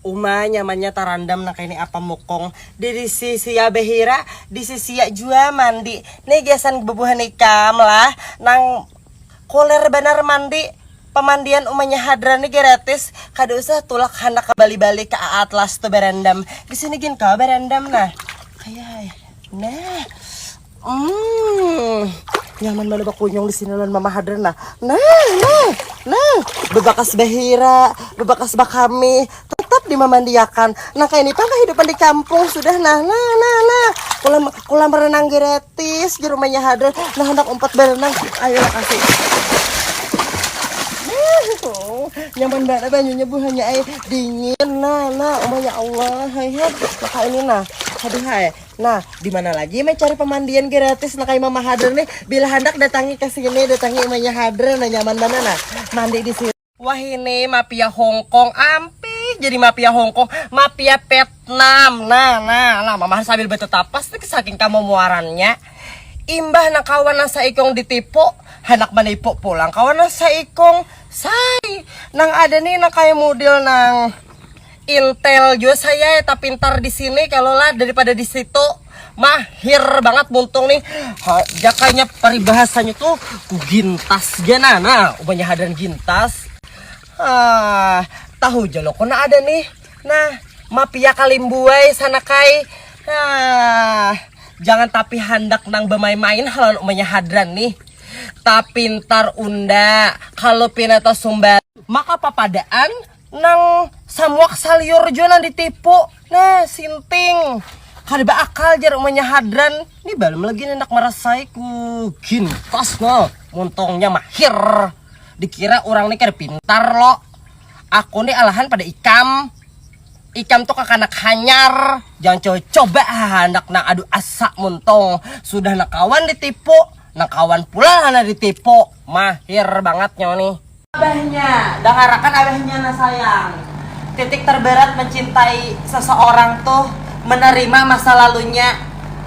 Uma nyamannya tarandam nang kaini apa mukung di disi sia behira disi sia jua mandi ni gasan bebuhan ikam lah nang kuler banar mandi pamandian umanya hadran ni gratis kada usah tulak handak ke bali bali ke aatlas tu barandam disini gin kawa barandam nah kaya ai nah. Hmm, nyaman banar bakunyung di sini lawan Mama Hadran nah. Nah, nah, nah, bebakas bahira, bebakas bakami, tetap dimamandiakan. Nah, kayak ini pang kehidupan di kampung sudah nah, nah, nah, nah. Kolam kolam renang gratis di rumahnya Hadran. Nah, hendak umpat berenang, ayo kasih. nyaman banget banyunya bu hanya air dingin nah nah oh ya Allah hai hai maka ini nah aduh hai Nah, di mana lagi meh cari pemandian gratis nah kayak Mama Hadra nih. Bila handak datangi ke sini, datangi Mama Hadra nah nyaman mana nah. Mandi di sini. Wah ini mafia Hongkong ampih jadi mafia Hongkong, mafia Vietnam. Nah, nah, nah Mama sambil betetapas nih saking kamomoarannya. Imbah nang kawan nang saikung ditipu, handak menipu pulang kawan nang saikung. Say, nang ada nih nang kayak model nang Intel jua saya ya tapintar di sini kalau lah daripada di situ mahir banget muntung nih ha, jakanya paribahasanya tuh ku gintas jana nah ubahnya hadan gintas ah tahu jalo kona ada nih nah mapia kalimbuai sanakai ah jangan tapi handak nang bamain-main halan umanya hadran nih tapintar unda kalau pinata sumbar maka papadaan nang samuak saliur jua nang ditipu nah sinting kada beakal jar umanya hadran ini balum lagi hendak merasai ku gintas no muntungnya mahir dikira orang ni kada pintar lo aku ni alahan pada ikam ikam tu kakanak hanyar jangan coba coba handak nang adu asa muntung sudah nang kawan ditipu nang kawan pula lah nang ditipu mahir bangat nyo ni. Abahnya, dangarakan abahnya nah sayang. Titik terberat mencintai seseorang tuh menerima masa lalunya.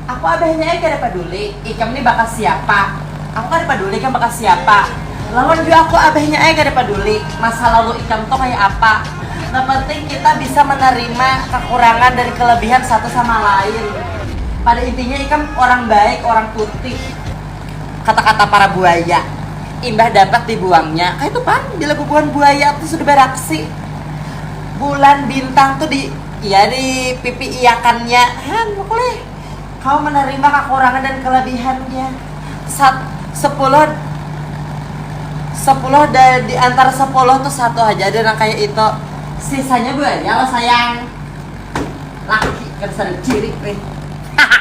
Aku abahnya ai kada paduli ikam nih bakas siapa. Aku kada paduli ikam bakas siapa. Lawan jua aku abahnya ai kada paduli masa lalu ikam tuh kaya apa. Nang penting kita bisa menerima kekurangan dan kelebihan satu sama lain. Pada intinya ikam orang baik, orang tuti. Kata-kata para buaya, imbah dapat dibuangnya, kaytu pang bila bubuhan buaya tu sudah baraksi, bulan bintang tu di iya di pipi iakannya, han makulih kawa manarima kakurangan dan kalabihannya, sat sapuluh sapuluh da di antara sapuluh tu satu haja ada nang kaya itu, sisanya buaya lah sayang, laki kada sada ciri nih, haha.